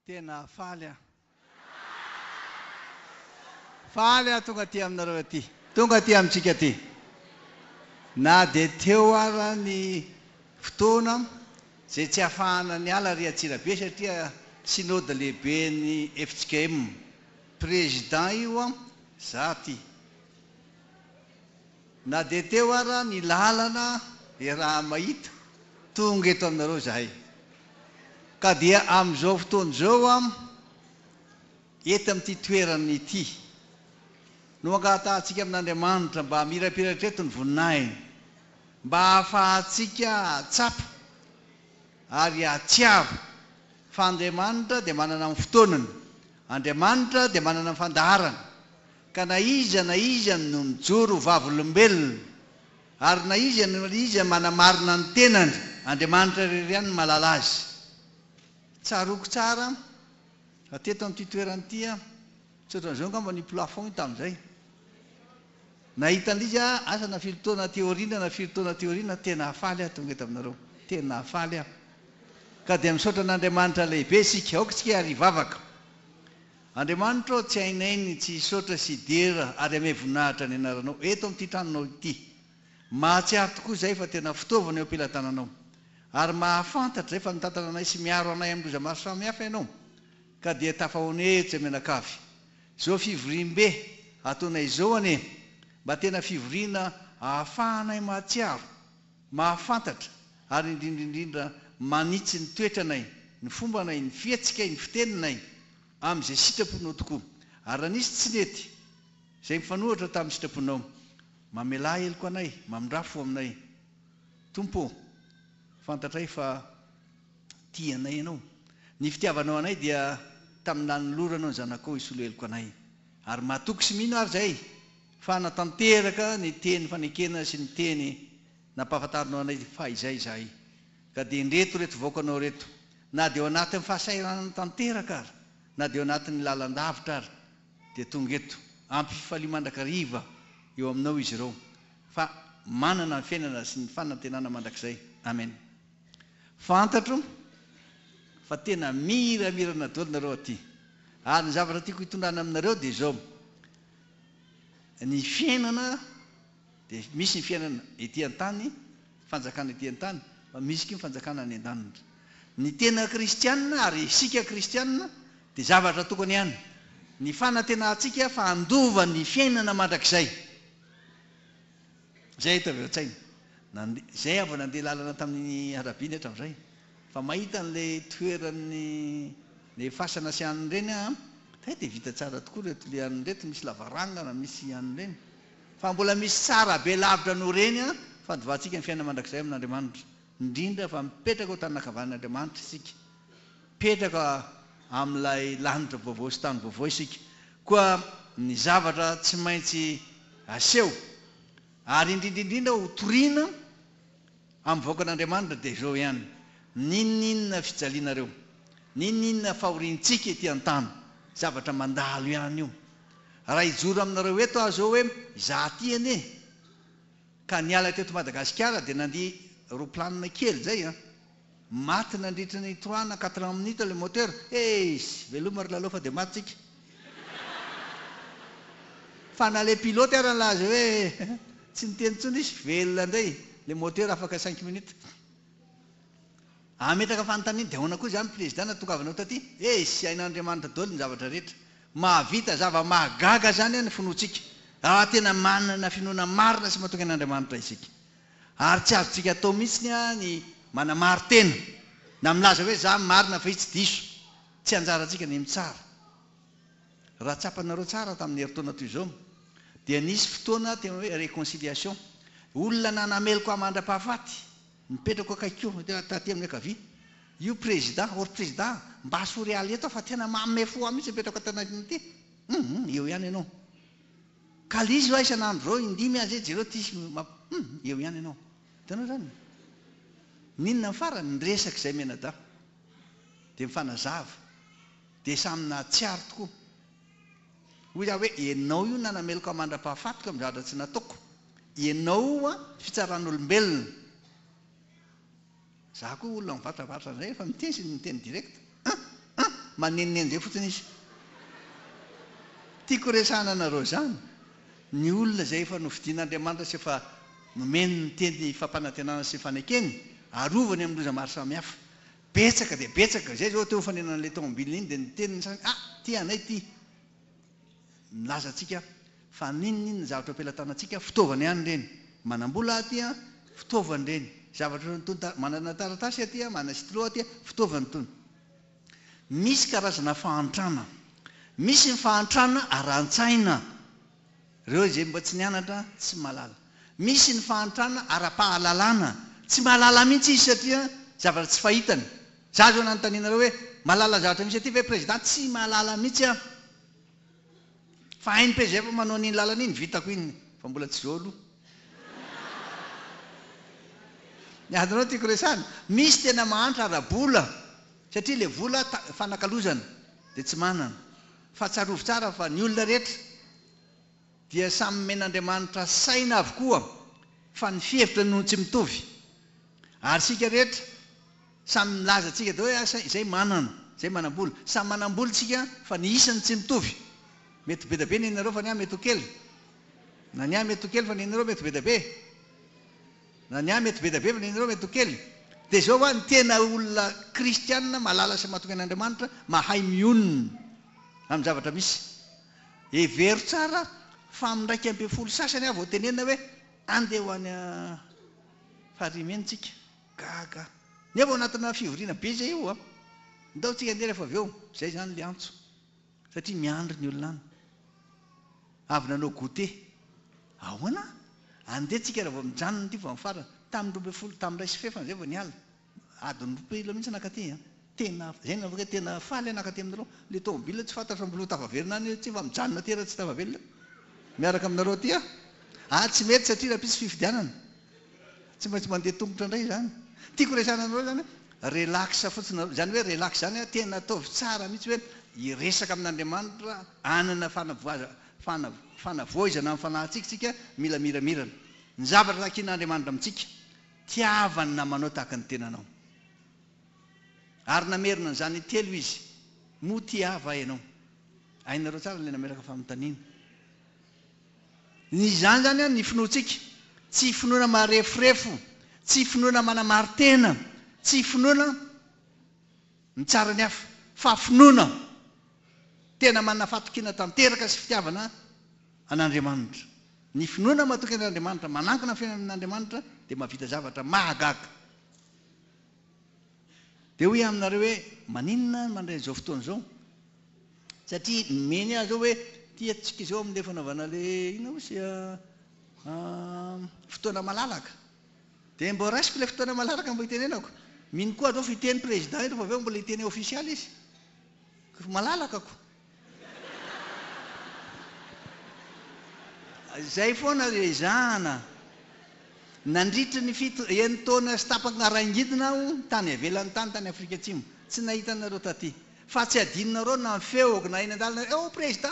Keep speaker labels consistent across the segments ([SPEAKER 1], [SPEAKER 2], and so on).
[SPEAKER 1] Tena faly aho. Faly aho tonga aty aminareo aty. Tonga aty amintsika aty. Na dia teo ara ny fotoana izay tsy afahana niala ary Antsirabe satria Synode lehibe ny FJKM. Président io an, za aty. Na dia teo ara ny lalana dia raha mahita tonga eto aminareo zahay ka dia amin'izao fotoana izao am eto amin'ity toerana ity no angatahantsika amin'Andriamanitra mba hamirapiratra eto ny voninahiny mba hahafahantsika hahatsapa ary hahatsiaro fa Andriamanitra dia manana ny fotoanany, Andriamanitra dia manana ny fandaharany. Ka na iza na iza no mijoro ho vavolombelona, ary na iza na iza manamarina ny tenany, Andriamanitra irery ihany no mahalala azy. Tsaroako tsara fa teto amin'ity toerana ity aho, tsy ohatran'izao angamba ny plafond tamin'izay, nahita an'ilay izy aho, asa na firy taona aty aoriana na firy taona aty aoriana, tena hafaly aho tonga eto aminareo, tena hafaly aho. Ka dia misaotra an'Andriamanitra lehibe isika, aoka isika ary hivavaka. Andriamanitra ô, tsy hainay ny tsy hisaotra sy hidera ary hamehy voninahitra ny Anaranao eto amin'ity tranonao ity. Mahatsiaro tokoa izahay fa tena fitaovana eo am-pelatananao. Ary mahafantatra izay fa mitantana anay sy miaro anay amin'ny loza maro samihafa Ianao. Ka dia tafahonehotra mianakavy. Izao fivoriambe ataonay izao anie mba tena fivoriana ahafahanay mahatsiaro. Mahafantatra, ary indrindra indrindra manitsy ny toetranay, ny fombanay, ny fihetsikay, ny fiteninay, amin'izay sitraponao tokoa. Ary raha nisy tsy nety, izay mifanohitra tamin'ny sitraponao, mamelà heloka anay, mamindrà fo aminay. Tompo ô, fantatray fa tia anay Ianao. Ny fitiavanao anay dia tamin'ny nanoloranao ny Zanakao hisolo heloka anay. Ary matoky sy mino ary izay. Fa hanatanteraka ny teny fanekena sy ny teny nampahafantarinao anay fahizay izahay. Ka dia indreto ireto vaokanao ireto, na dia ao anatin'ny fahasahiranana tanteraka ary, na dia ao anatin'ny lalan-davitra ary, dia tonga eto. Ampy fifaliana mandrakariva eo aminao izy ireo, fa manana ny fiainana sy ny fanantenana mandrakizay. Amena. Fantatro fa tena miramirana daholo nareo aty. Ary ny zavatra tiako hitondrana aminareo dia izao, ny fiainana dia misy ny fiainana ety an-tany, fanjakana ety an-tany, fa misy koa ny fanjakana any an-danitra. Ny tena kristianina ary isika kristianina dia zavatra tokana ihany. Ny fanantenantsika fa handova ny fiainana mandrakizay. Izay eto avy ao an-tsaina. Nandeha, izay avy nandeha lalana tamin'ny arabe ny eto amin'izay. Fa mahita an'ilay toeran'ny ilay fasana sy an'ireny aho an. Hay dia vita tsara tokoa ireto, ilay an'ireto misy lavarangana, misy an'ireny. Fa mbola misy tsara be lavitra noho ireny an, fandovantsika ny fiainana mandrakizay amin'Andriamanitra. Indrindra fa mipetraka ao tanana ankavanan'Andriamanitra isika. Mipetraka amin'ilay lanitra vaovao sy tany vaovao isika, koa ny zavatra tsy maintsy aseho ary indrindra indrindra ho toriana amin'ny vahoakan'Andriamanitra dia izao ihany, N'inon'inona fijalianareo? N'inon'inona fahoriantsika ety an-tany? Zavatra mandalo ihany io. Raha hijoro aminareo eto aho izao hoe, Izaho aty anie, ka niala teto Madagasikara dia nandia roplanina kely izay an, Maty nandritra ny trois na quatre ans minutes le moteur, eeish! Veloma ry lalao fa dia maty tsika. Fa na le pilote ara nilaza hoe tsy niteny intsony izy, velona indray le moteur afaka cinq minutes. Ametraka fanontaniana, dia ahoana koa izany prezida na tongavanao taty? Eeish! Hain'Andriamanitra doly ny zavatra rehetra. Mahavita zava mahagaga izany ny finoantsika. Raha tena manana finoana marina sy matoky an'Andriamanitra isika, Ary tsy azontsika atao mihitsy ny manamari-tena na milaza hoe za marina fa i tsy diso. Tsy anjarantsika ny mitsara. Raha tsapanareo tsara tamin'ny herintaona toy izao dia nisy fotoana tena hoe réconciliation. Olona nanameloko ahy mandra-pahafaty, mipetrako akaikiko taty amin'ny ankavia, io président, or président mba asao realy eto aho fa tena manome fo ahy mihitsy mipetraka ato anatiny ity. Hum hum eo ihany ianao. Ka lzy oa isan'andro zao indimy aza e jereo ty sy ma hum eo ihany ianao hitanao zany e n'inona ny farany ny resaka izay mianadahy dia mifanazava dia samy nahatsiaro tokoa hoy aho hoe ianao io nanameloka aho mandra-pahafatiko amin'ny zavatra tsy nataoko ianao oa fitsaran'olombelona Za koa olona mivatravatra zay refa miteny sy miteny direct a a manenoneno zay fotsiny izy Tiako resahana anareo zany ny olona zay efa nofidin'Andriamanitra sy efa nomeny ny teny fampanantenana sy fanekeny arovany amin'ny loza maro samihafa betsaka dia betsaka zay zao teo fanenana an'ilay tomobile iny dia niteny ny sasany ah ty anay ty Milaza antsika fa n'inon'inona ny zavatra eo am-pelatanantsika, fitaovana ihany ireny. Manam-bola aho aty an, fitaovany ireny. Zavatra ohatran'ny itony, manana taratasy aty an, manana stylo aty an, fitaovany itony. Misy karazana fahantrana. Misy ny fahantrana ara-tsaina. Reo izay mba tsy nianatra tsy malala. Misy ny fahantrana ara-pahalalana. Tsy mahalala mihitsy izy satria zavatra tsy fahitany. Za zao nanontanianareo hoe mahalala zavatra misy aty ve président tsy mahalala mihitsy aho. Fa hain'ny PGF manao an'iny lalana iny vitako iny fa mbola tsy zao aloha. Ny adinao tiako resahana. Misy tena mahantra ara-bola satria le vola ta fanakalozana de tsy manana. Fa tsarovy tsara fa ny olona rehetra dia samy nomen'Andriamanitra saina avokoa fa ny fihevitra no tsy mitovy. Ary isika rehetra samy milaza antsika daholo hoe asa izay manana, izay manam-bola. Samy manam-bola isika fa ny isa no tsy mitovy. Mety ho bedabe ny anareo fa ny ahy mety ho kely. Na ny ahy mety ho kely fa ny anareo mety ho bedabe. Na ny ahy mety be dia be fa ny anareo mety ho kely. Dia izao ho'a ny tena olona kristiana malala sy matoky an'Andriamanitra, mahay mionona amin'ny zavatra misy. Hevero tsara fa amin'ny iraika ambin'ny folo sasany aho vao tenenina hoe andeha ho any Farihinimena isika. Gaga aho. Nefa ao anatina fivoriana be izay io an! Ndao tsika andeha rehefa avy eo. Izay izany ilay antso. Satria miandry ny olona any. Avy nanao goûter. Ahoana? Andeha tsika raha vao mijanona ity vao amin'ny farany. Tamin'ny roa ambin'ny folo, tamin'ny iray sy fefany izay vao niala. Adiny roa kely eo mihitsy nakaty an. Tena, izay no navakay, tena faly aho nakaty aminareo. Ilay tômôbila tsy fantatro fa mbola ho tafaverina any tsy efa mijanona aty raha tsy tafaverina eo. Miaraka aminareo aty aho. Ahy tsy mety satria rahampitso fifidianana. Tsy maintsy mandeha tongotra indray izany. Tiako resahina anareo izany hoe relax fotsiny nareo. Izany hoe relax izany an, tena ataovy tsara mihitsy hoe hiresaka amin'Andriamanitra, hanana fanavoazana, fanavoizana amin'ny fanahintsika isika, mila miramirana. Ny zavatra takin'Andriamanitra amintsika, tiavany ny namanao tahaka ny tenanao. Ary namerina an'izany intelo Izy, Moa tia Ahy va ianao? Hainareo tsara ilay nametraka fanontaniana. Ny zany zany an ny finoantsika, tsy finoana mareforefo, tsy finoana manamaritena, tsy finoana mitsara ny hafa, fa finoana tena manana fatokiana tanteraka sy fitiavana an'Andriamanitra. Ny finoana matoky an'Andriamanitra, manankina ny fiainana amin'Andriamanitra dia mahavita zavatra mahagaga. Dia hoy aho aminareo hoe, Maninona aho mandray izao fotoana izao? Satria nomeny ahy izao hoe, Ity antsika izao amin'ilay fanaovana ilay, inona hozy e, fotoana malalaka. Dia mba raisiko ilay fotoana malalaka mba hitenenako. Mino koa aho fa hiteny Président eto fa avy eo mbola hiteny ofisialy izy. Ry malalaka ko! Izay foana no ezahana. Nandritry ny fito enin-taona sy tapaka-ngara-ngidina aho tany ivelany tany, tany Afrika Atsimo. Tsy nahita anareo taty. Fa tsy hadinonareo na ny feoko na eny an-dalana, Eo Prezidà!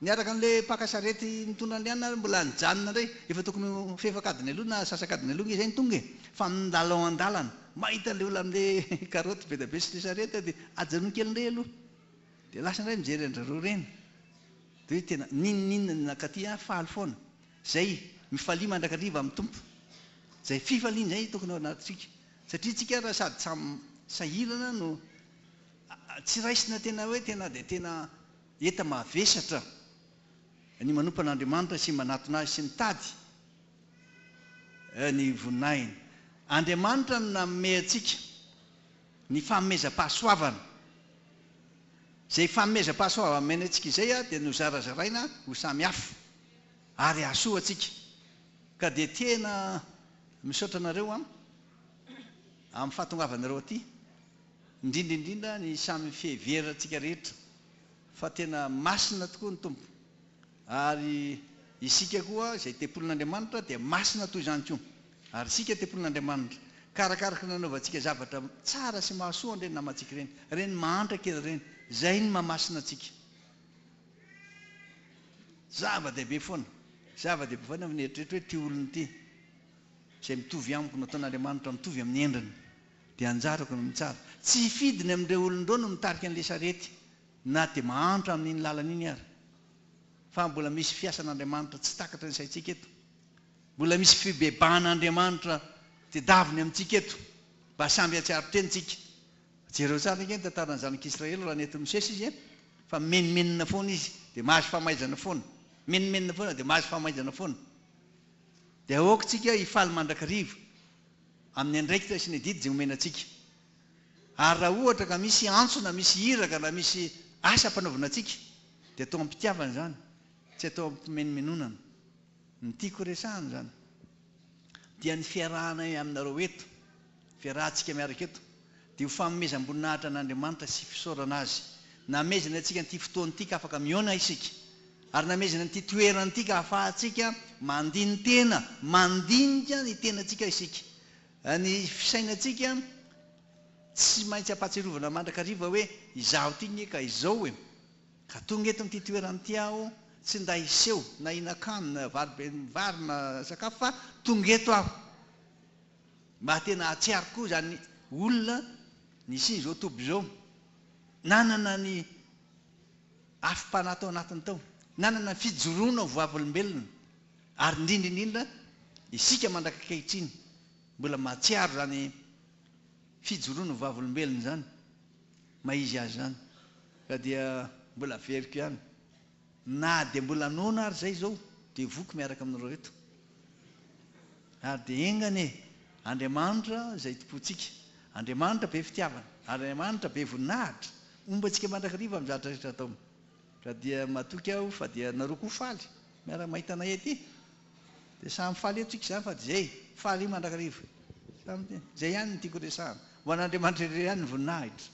[SPEAKER 1] Niaraka an'ilay mpaka sarety nitondra an'i Liana ary mbola nijanona indray. Efa tokony ho fefak'adiny aloha na sasak'adiny aloha ange izay no tonga e! Fa nilalao an-dalana. Mahita an'ilay olona amin'ilay karaoty be dia be sy ilay sarety aho dia ajanony kely indray aloha. Dia lasa indray mijery an-dry roa reny. Dia hoe tena n'inon'inona ny nankaty ahy, faly foana. Izay, mifalia mandrakariva amin'ny Tompo. Izay fifaliana izay no tokony ao anatintsika. Satria tsika ary sady samy sahirana no tsy raisina tena hoe tena dia tena. Heta mavesatra ny manompo an'Andriamanitra sy manatona Azy sy mitady ny voninahiny. Andriamanitra no nanome antsika ny fanomezam-pahasoavana. Izay fanomezam-pahasoavana omeny antsika izay dia nozarazaraina ho samy hafa ary hahasoa antsika. Ka dia tena misaotra anareo amin'ny fahatongavanareo aty. indrindra indrindra ny samy fiheverantsika rehetra fa tena masina tokoa ny Tompo ary isika koa izay tempolin'Andriamanitra dia masina toy izany koa ary isika tempolin'Andriamanitra ka arakaraky ny nanaovantsika zavatra tsara sy mahasoa an'ireny namantsika ireny, ireny mahantra kely ireny, izay ny mahamasina antsika. Zava-dehibe foana, zava-dehibe foana fa mieritreritra hoe ity olona ity izay mitovy amiko nataon'Andriamanitra mitovy amin'ny endriny. Dia anjarako ny mitsara. Tsy hifidy ny amin'ireo olon-drony no mitarika an'ilay sarety, na dia mahantra amin'iny lalana iny ary. Fa mbola misy fiasan'Andriamanitra tsy takatry ny saintsika eto. Mbola misy fibebahan'Andriamanitra tedaviny amintsika eto, mba samby hahatsiaro tena isika. Jereo tsara ange ny tantaran'ny zanak'Israely raha nentin'i Mosesy izy an! Fa mimenomenona foana izy, dia mahazo famaizana foana. Mimenomenona foana, dia mahazo famaizana foana. Dia aoka isika hifaly mandrakariva. amin'ny andraikitra sy ny adidy izay omena antsika. Ary raha ohatra ka misy antso na misy iraka na misy asa ampanaovina antsika dia atao am-pitiavana izany, tsy atao am-pimenomenonana. Ny tiako horesahana izany dia ny fiarahanay aminareo eto, fiarahantsika miaraka eto. dia ho fanomezam-boninahitra an'Andriamanitra sy fisaorana Azy namezany antsika an'ity fotoana ity ka afaka mihaona isika, ary namezany an'ity toerana ity ka ahafahantsika mandini-tena, mandinika ny tenantsika isika. Ny fisainantsika tsy maintsy ampahatsiarovana mandrakariva hoe, Izaho ity nge ka izao e! Ka tonga eto amin'ity toerana ity aho, tsy nda hiseho na hihinan-kanina, vary be vary na sakafo fa tonga eto aho. Mba tena hahatsiaro koa izany olona nisian'izao toby izao, nanana ny afom-panahy tao anatiny tao, nanana ny fijoroana ho vavolombelona, ary indrindra indrindra isika mandrak'ankehitriny mbola mahatsiaro izany fijoroana ho vavolombelona izany, maha izy azy izany, ka dia mbola averiko ihany. Na dia mbola noana ary izay izao dia voky miaraka amin'ireo reto. Ary dia enga anie, Andriamanitra izay Tompontsika, Andriamanitra be fitiavana, Andriamanitra be voninahitra, homba antsika mandrakariva amin'ny zavatra rehetra ataony. Ka dia matoky aho fa dia nareo koa faly miara-mahita anay ety. Dia samy faly eto tsika izany fa dia izay, faly mandrakariva. Samy dia izay ihany no tiako resahana. Ho an'Andriamanitra irery ihany ny voninahitra.